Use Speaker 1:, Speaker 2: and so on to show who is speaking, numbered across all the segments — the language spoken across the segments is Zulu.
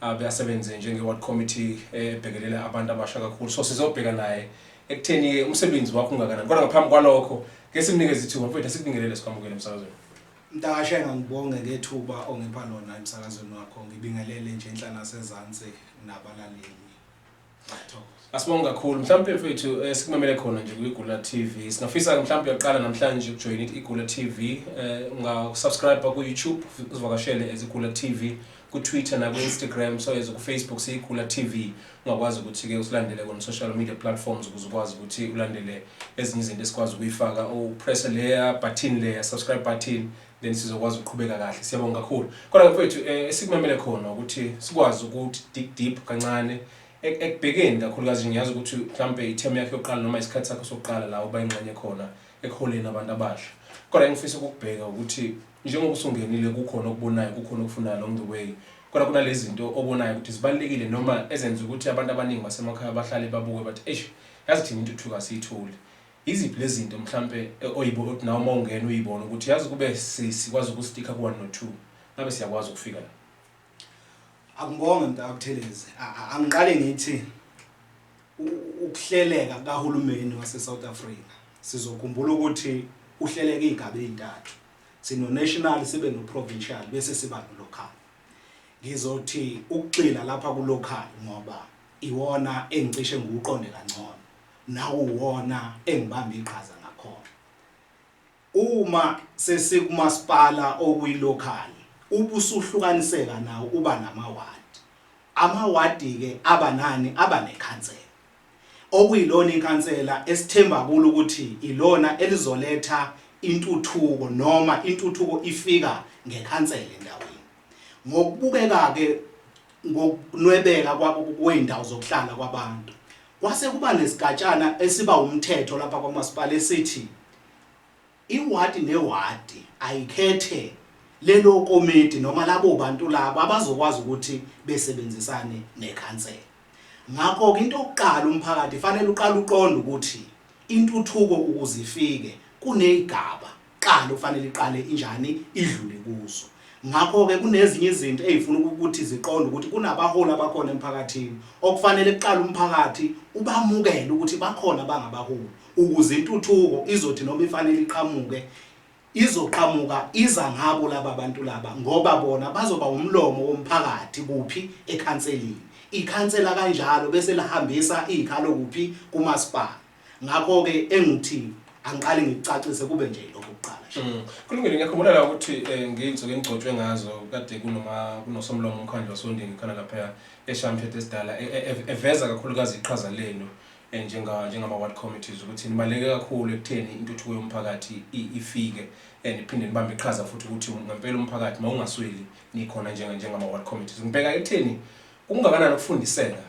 Speaker 1: abe asebenze njenge-ward committee ebhekelela abantu abasha kakhulu so sizobheka naye ekutheni-ke umsebenzi wakho ungakanani kodwa ngaphambi kwalokho ke simnikeze ithuba mfethu asikubingelele sikwamukele emsakazweni mntakashe
Speaker 2: ngangibonge ngethuba ongipha lona emsakazweni wakho ngibingelele nje enhla nasezansi nabalaleli
Speaker 1: Asibonge kakhulu mhlawumbe mfethu eh, sikumamele khona nje kwiGula TV. Singafisa mhlawumbe uyaqala namhlanje ukujoin iGula TV, eh ungasubscribe ku YouTube, uzivakashele ezigula TV ku Twitter na ku Instagram, so as ku Facebook siyigula TV. Ungakwazi ukuthi ke usilandele on social media platforms ukuze ukwazi ukuthi ulandele ezinye izinto esikwazi ukuyifaka. U press leya button leya subscribe button then sizokwazi ukuqhubeka kahle siyabonga kakhulu kodwa mfethu eh, esikumemele khona ukuthi sikwazi ukuthi dig deep kancane ek- ekubhekeni kakhulukazi ngiyazi ukuthi mhlampe ithemu yakhe yokuqala noma isikhathi sakho sokuqala la uba ingxenye khona ekuholeni abantu abasha kodwa engifisa ukukubheka ukuthi njengoba usungenile kukhona okubonayo kukhona okufunayo along the way kodwa kunalezi zinto obonayo ukuthi zibalulekile noma ezenza ukuthi abantu abaningi basemakhaya bahlale babuke bathi eish yazi thina intuthuko asiyitholi Iziphi lezinto mhlampe oyibo othi nawe uma ungena uyibone ukuthi yazi kube sikwazi ukustikha ku-one no two ngabe siyakwazi ukufika la?
Speaker 2: Akungibonge mntakabuthelezi angiqale ngithi ukuhleleka kahulumeni wase-south africa sizokhumbula ukuthi uhleleka iy'ngaba ey'ntathu sino-national sibe no-provincial bese siba no-local ngizothi ukugxila lapha ku-local ngoba iwona engicishe ngiwuqonde kangcono nawuwona engibamba iqhaza ngakhona. Uma sesikumasipala okuyilokhali ubusuhlukaniseka nawo uba namawadi. Amawadi-ke aba nani? Aba nekhansela, okuyilona ikhansela esithemba kulo ukuthi ilona elizoletha intuthuko noma intuthuko ifika ngekhansela endaweni. Ngokubukeka-ke ngokunwebeka kwey'ndawo zokuhlala kwabantu, kwase kuba nesigatshana esiba wumthetho lapha kwamasipala esithi iwadi newadi ayikhethe lelo komidi noma labo bantu labo abazokwazi ukuthi besebenzisane nekhansela. Ngakho-ke into yokuqala umphakathi fanele uqale uqonde ukuthi intuthuko ukuze ifike kuney'gaba kuqala okufanele iqale injani idlule kuzo ngakho-ke kunezinye izinto ey'funa ukuthi ziqonde ukuthi kunabaholi abakhona emphakathini okufanele kuqala umphakathi ubamukele ukuthi bakhona bangabaholi ukuze intuthuko izothi noma ifanele iqhamuke izoqhamuka iza ngabo laba bantu laba ngoba bona bazoba umlomo womphakathi kuphi ekhanselini ikhansela kanjalo bese lihambisa iy'khalo kuphi kumasipala Ngakho-ke engikuthini angiqale ngikucacise kube nje lokho kuqala nje. Mm. Kulungile ngiyakhumbula
Speaker 1: la ukuthi eh, ngiyinsuku engigcotshwe ngazo kade kunoma kunosomlomo umkhandlu wasondini khona lapha eShamthethe esidala e- e- ev- eveza kakhulukazi iqhaza lenu eh, njenga njengama ward committees ukuthi nibaleke kakhulu ekutheni intuthuko yomphakathi i- ifike eh, niphinde nibambe iqhaza futhi ukuthi ngempela umphakathi mawungasweli nikhona njenga njengama ward committees. Ngibheka ekutheni kungakanani ukufundiseka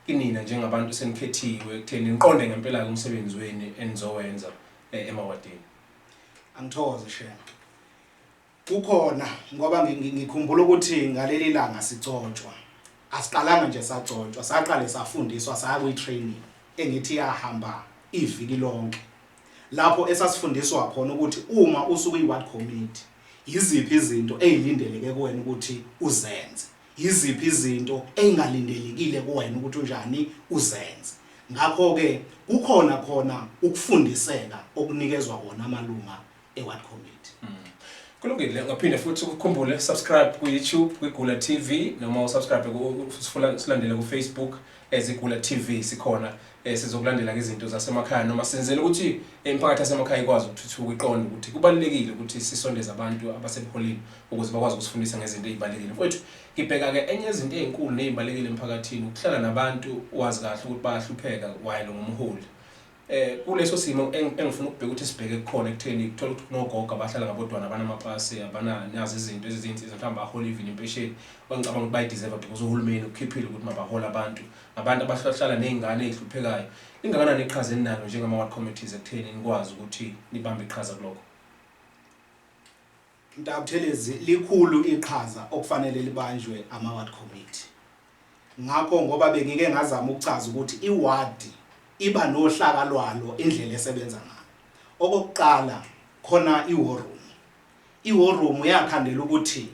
Speaker 1: Kinina njengabantu senikhethiwe ekutheni niqonde ngempela-ke umsebenzi wenu enizowenza eh, emawadini.
Speaker 2: Angithokoze Shema. Kukhona ngoba ngi- ngi- ngikhumbula ukuthi ngaleli langa sicotshwa. Asiqalanga nje sagcotshwa, saqale safundiswa saya kwi-training engithi yahamba iviki lonke. Lapho esasifundiswa khona ukuthi uma usuku i-ward committee yiziphi izinto ezilindeleke kuwena ukuthi uzenze. Yiziphi izinto ey'ngalindelekile kuwena ukuthi unjani uzenze? Ngakho-ke kukhona khona ukufundiseka okunikezwa kona amalunga eWard Committee. Hmm. Kulungile,
Speaker 1: ngaphinde futhi ukukhumbule subscribe ku-YouTube kwiGula TV noma usubscribe silandele ku-Facebook As iGula TV sikhona eh, sizokulandela ngezinto zasemakhaya noma senzela ukuthi imiphakathi yasemakhaya ikwazi ukuthuthuka iqonde ukuthi kubalulekile ukuthi sisondeze abantu abasebuholini ukuze bakwazi ukusifundisa ngezinto ezibalulekile mfowethu ngibheka ke enye izinto ezinkulu nezibalulekile emphakathini ukuhlala nabantu wazi kahle ukuthi bayahlupheka while ngumholi Eh kuleso simo engifuna ukubheka ukuthi sibheke kukhona ekutheni kuthola ukuthi kunogogo abahlala ngabodwana abanamapasi abana nazi izinto ezizinsiza mhlawumbe bahola even impesheni bangicabanga ukuthi bayideserve because uhulumeni ukhiphile ukuthi mabahole abantu abantu abahlala nezingane ezihluphekayo ingakanani iqhaza eninalo njengama ward committees ekutheni nikwazi ukuthi nibambe iqhaza kuloko
Speaker 2: Mtaka Buthelezi, Likhulu iqhaza okufanele libanjwe ama-ward committee. Ngakho ngoba bengike ngazama ukuchaza ukuthi i-ward iba nohlaka lwalo indlela esebenza ngayo. Okokuqala khona i-war room. I-war room yakhandela ukuthi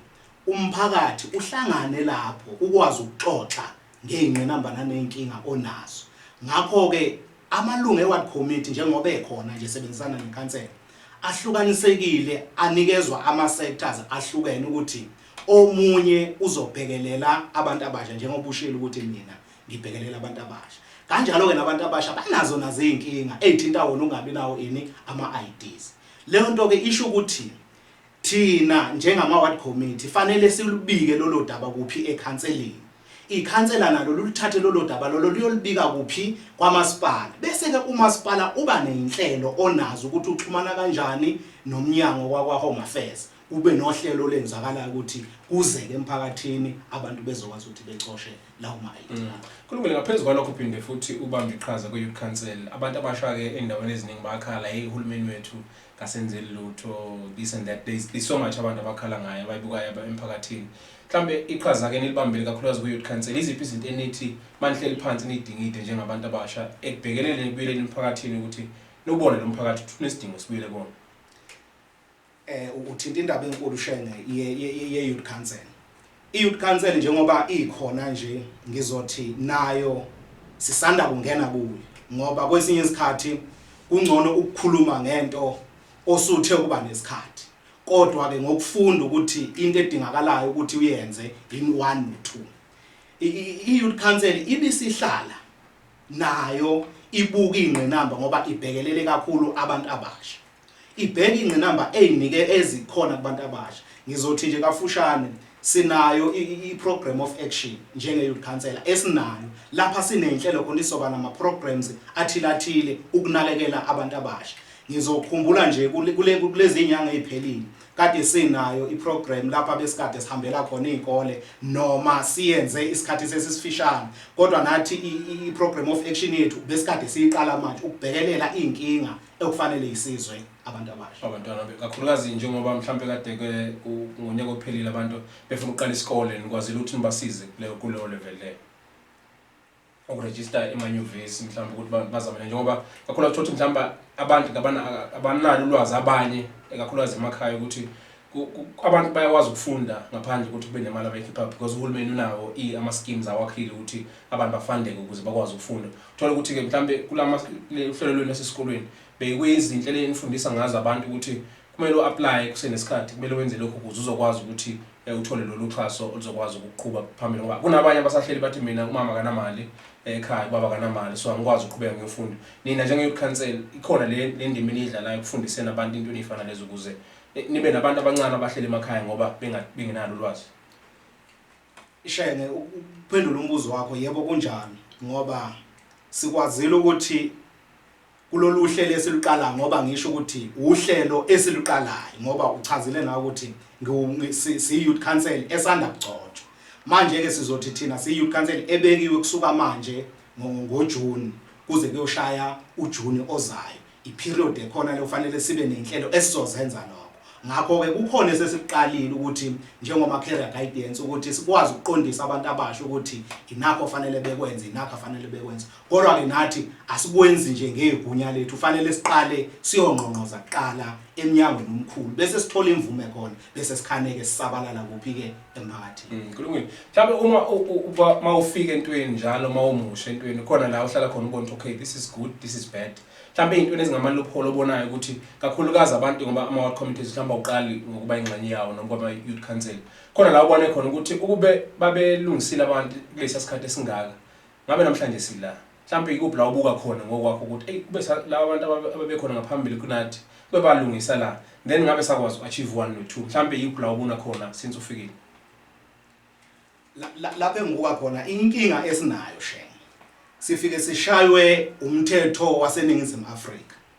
Speaker 2: umphakathi uhlangane lapho ukwazi ukuxoxa ngey'ngqinamba naney'nkinga onazo. Ngakho-ke amalungu e-ward committee njengoba ekhona nje esebenzisana nekhansela ahlukanisekile anikezwa ama-sectors ahlukene ukuthi omunye uzobhekelela abantu abasha njengoba ushilo ukuthi mina ngibhekelela abantu abasha. Kanjalo-ke nabantu abasha banazo nazo iy'nkinga ey'thinta wona ukungabi nawo ini ama-IDs. Leyo nto-ke isho ukuthi Thina njengama-ward committee fanele silubike lolo daba kuphi? Ekhanseleni. Ikhansela nalo luluthathe lolo daba lolo luyolubika kuphi? Kwamasipala. Bese-ke umasipala uba ney'nhlelo onazo ukuthi uxhumana kanjani nomnyango wakwa-Home Affairs, kube nohlelo olenzakalayo ukuthi kuzeke emphakathini abantu bezokwazi ukuthi becoshe lawo ma-ID abo. Kulungile, ngaphezu
Speaker 1: kwalokho uphinde futhi ubambe iqhaza kwi-Youth Council. Abantu abasha-ke ey'ndaweni eziningi bayakhala, hheyi uhulumeni wethu kasenzeli lutho this and that there's, there's so much abantu abakhala ngayo abayibukayo emphakathini mhlambe iqhaza ke nilibambile kakhulukazi kuyouth council iziphi izinto enithi manihleli phansi nidingide njengabantu abasha ekubhekelele ekubuyeleni emphakathini ukuthi nobone lo mphakathi ukuthi unesidingo sibuyele kona eh
Speaker 2: uthinta indaba enkulu shenge ye youth council I-Youth Council njengoba ikhona nje ngizothi nayo sisanda kungena kuyo ngoba kwesinye isikhathi kungcono ukukhuluma ngento osuthe ukuba nesikhathi kodwa ke ngokufunda ukuthi into edingakalayo ukuthi uyenze in 1 no 2 i-youth council ibisihlala nayo ibuka ingqinamba ngoba ibhekelele kakhulu abantu abasha Ibheka ingqinamba eynike ezikhona kubantu abasha. Ngizothi nje kafushane sinayo iprogram of action njenge youth councillor esinayo lapha sinenhlelo khona isoba nama programs athile athile ukunakekela abantu abasha. Ngizokhumbula nje kulezi nyanga eziphelile kade sinayo iprogram lapha besikade sihambela khona izikole noma siyenze isikhathi sesisifishane kodwa nathi iprogram of action yethu besikade siyiqala manje ukubhekelela izinkinga ekufanele isizwe abantu abasha abantwana be- kakhulukazi
Speaker 1: njengoba mhlampe kade ke ku- ngonyaka ophelile abantu befuna ukuqala isikole nikwazile ukuthi nibasize kuleyo kuleyo level leyo ukurejista emanyuvesi mhlawumbe ukuthi ba- bazamele njengoba kakhulu ukuthi mhlawumbe abantu kabana- abanalo ulwazi abanye ekakhulukazi emakhaya ukuthi abantu bayakwazi ukufunda ngaphandle ukuthi kube nemali abayikhipha because uhulumeni unawo ama schemes awakhile ukuthi abantu bafundeke ukuze bakwazi ukufunda uthola ukuthi ke mhlambe kulama uhlelo lwenu esikolweni beyikwezinhle lenifundisa ngazo abantu ukuthi kumele uapply kusenesikhathi kumele wenze lokho ukuze uzokwazi ukuthi eh, uthole lolu xhaso oluzokwazi ukuqhuba phambili ngoba kunabanye abasahleli bathi mina umama kanamali eh, ekhaya ubaba kanamali so angikwazi ukuqhubeka ngiyofunda nina njenge youth council ikhona le ndima eniyidlalayo ukufundiseni abantu into enifana lezo ukuze Nibe nabantu abancane abahleli emakhaya ngoba bengenalo ulwazi.
Speaker 2: Shenge ukuphendula umbuzo wakho yebo kunjalo ngoba sikwazile ukuthi kulolu hlelo esiluqala ngoba ngisho ukuthi uhlelo esiluqalayo ngoba uchazile nawe ukuthi siyi-youth council esanda kugcotshwa manje-ke sizothi thina siyi-youth council ebekiwe kusuka manje ngojuni kuze kuyoshaya ujuni ozayo iperiod ekhona leyo kufanele sibe nezinhlelo esizozenza lokho ngakho ke kukhona esesiqalile ukuthi njengoma career guidance ukuthi sikwazi ukuqondisa abantu abasha ukuthi inakho fanele bekwenze inakho fanele bekwenze kodwa ke nathi asikwenzi nje ngegunya lethu fanele siqale siyongqongqoza kuqala emnyangweni omkhulu bese sithola imvume khona bese sikhaneke sisabalala kuphi ke emphakathini mm, kulungile mhlawumbe
Speaker 1: uma uba mawufika entweni njalo mawumusha entweni khona la uhlala khona ubona okay this is good this is bad mhlawumbe izintweni ezingama loophole obonayo ukuthi kakhulukazi abantu ngoba ama ward committees mhlawumbe awuqali ngokuba ingxenye yawo noma kwama youth council khona la ubone khona ukuthi ukube babelungisile abantu kulesi sikhathi esingaka Ngabe namhlanje sila. Mhlampe ikuphi la ubuka khona ngokwakho ukuthi ey kube sa laba bantu ababe ababekhona ngaphambili kunathi kube balungisa la then ngabe sakwazi u achieve one no two mhlampe ikuphi la ubuna khona since ufikile. La-
Speaker 2: la- lapho engibuka khona inkinga esinayo shenge sifike sishaywe umthetho waseningizimu afrika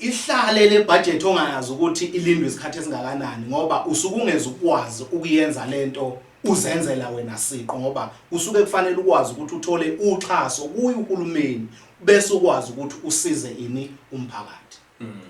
Speaker 2: ihlale le budget ongayazi ukuthi ilindwe isikhathi esingakanani ngoba usuke ungeze ukwazi ukuyenza lento uzenzela wena siqo ngoba usuke kufanele ukwazi ukuthi uthole uxhaso kuyo uhulumeni bese ukwazi ukuthi usize ini umphakathi mm.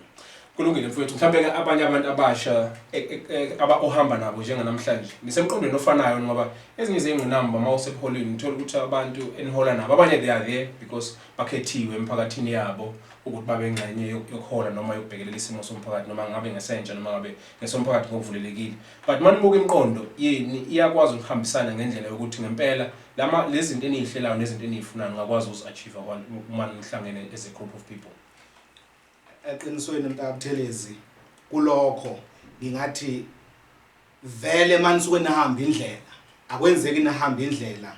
Speaker 1: kulungile mfowethu mhlawumbe ke abanye abantu abasha e, e, e, aba ohamba nabo njenganamhlanje nisemqondweni ofanayo ngoba ezinye izingqinamba uma useholweni uthola ukuthi abantu enihola nabo abanye they are there because bakhethiwe emiphakathini yabo ukuthi babe ngxenye yok- yokuhola noma yokubhekelela isimo somphakathi noma ngabe ngesentsha noma ngabe ngesomphakathi ngokuvulelekile but uma nibuka imiqondo yeni iyakwazi ukuhambisana ngendlela yokuthi ngempela lama lezi zinto eniyihlelayo nezinto eniyifunayo ningakwazi ukuzi-achieve uma nihlangene as a group of people
Speaker 2: eqinisweni mntakabuthelezi kulokho ngingathi vele manisuke nihamba indlela akwenzeki nihamba indlela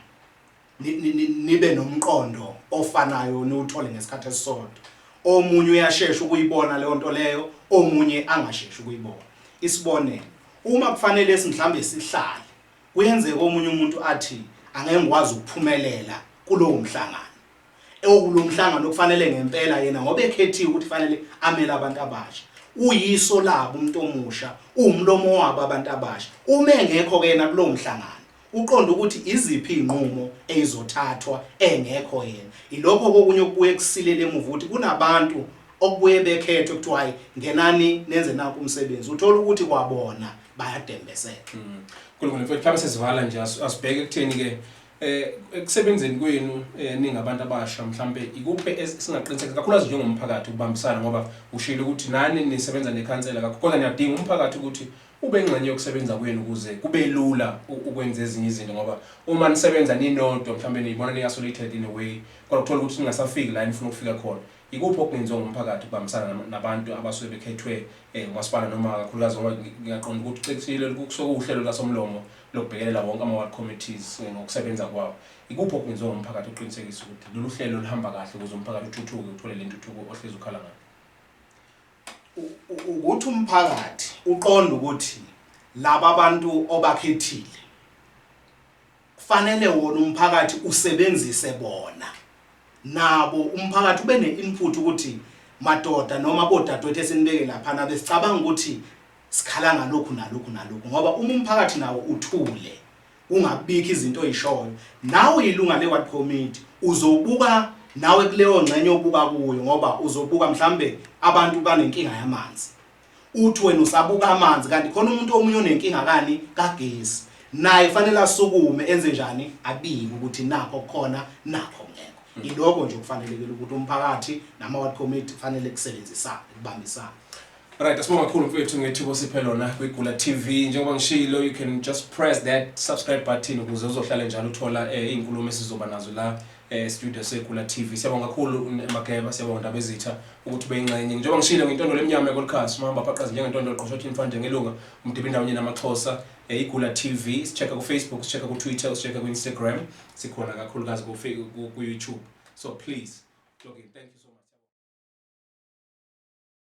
Speaker 2: nibe nomqondo ofanayo niwuthole ngesikhathi esisodwa omunye uyashesha ukuyibona leyo nto leyo omunye angashesha ukuyibona isibonelo uma kufanele simhlambe sihlale kuyenzeka omunye umuntu athi angeke ngikwazi ukuphumelela kulowo mhlangano ewukulo mhlangano okufanele ngempela yena ngoba ekhethiwe ukuthi fanele amele abantu abasha uyiso labo umuntu omusha uwumlomo wabo abantu abasha uma engekho ke yena kulowo mhlangano Uqonde ukuthi iziphi izinqumo eyizothathwa engekho yena. Ilokho kokunye okubuye kusilele emuva ukuthi kunabantu okubuye bekhethwe kuthiwa hayi ngenani nenze nakho umsebenzi. Uthola ukuthi kwabona bayadembeseka. Mm. Kulungile
Speaker 1: mfethu mhlawumbe sesivala nje asibheke ekutheni ke eh ekusebenzeni kwenu eh, ningabantu abasha mhlambe ikuphi esingaqiniseka kakhulukazi njengomphakathi ukubambisana ngoba ushilo ukuthi nani nisebenza nekhansela kakhulu kodwa niyadinga umphakathi ukuthi Ube ingxenye yokusebenza kwenu ukuze kube lula ukwenza ezinye izinto ngoba uma nisebenza ninodwa mhlawumbe niyibona ni-isolated in a way kodwa uthola ukuthi ningasafiki la enifuna ukufika khona. Yikuphi okungenziwa ngumphakathi ukubambisana nabantu abasuke bekhethwe um umasipala noma kakhulukazi ngoba ngiyaqonda ukuthi ucikishile kusuke kuwuhlelo lukasomlomo lokubhekelela wonke ama-ward committees eh, ngokusebenza kwawo. Yikuphi okungenziwa ngumphakathi ukuqinisekisa ukuthi lolu hlelo luhamba kahle ukuze umphakathi uthuthuke uthole le ntuthuko ohlezi ukhala ngayo?
Speaker 2: Ukuthi umphakathi uqonde ukuthi laba bantu obakhethile kufanele wona umphakathi usebenzise bona nabo umphakathi ube ne-input ukuthi madoda noma bodadewethu esinibeke laphana besicabanga ukuthi sikhala ngalokhu nalokhu nalokhu ngoba uma umphakathi nawo uthule Ungabikho izinto oyishoyo. Nawe uyilunga leward committee uzobuka nawe kuleyo ngxenye obuka kuyo ngoba uzobuka mhlambe abantu banenkinga yamanzi. Uthi wena usabuka amanzi kanti khona umuntu omunye onenkinga kani kagesi. Naye kufanele asukume enze njani abike ukuthi nakho khona nakho ngekho. Iloko nje okufanelekile ukuthi umphakathi nama ward committee kufanele kusebenzisane kubambisane. Right, asibonga
Speaker 1: kakhulu mfethu ngethuba osiphe lona kwiGula TV. Njengoba ngishilo, you can just press that subscribe button ukuze uzohlale njalo uthola eh, iy'nkulumo esizoba nazo la eh, studio seGula TV. Siyabonga kakhulu un- Mageba, siyabonga Ndabezitha ukuthi ube yingxenye. Njengoba ngishilo ngintondolo emnyama ekolikhasi, umahamba phaqazi njengentondolo qoshothi imfande ngelunga, umdiba indawonye namaxhosa. Eh, iGula TV, sichecka kuFacebook, sichecka kuTwitter, sichecka kuInstagram, sikhona kakhulukazi kufe- ku- kuYouTube. So please, log in. Thank you so much.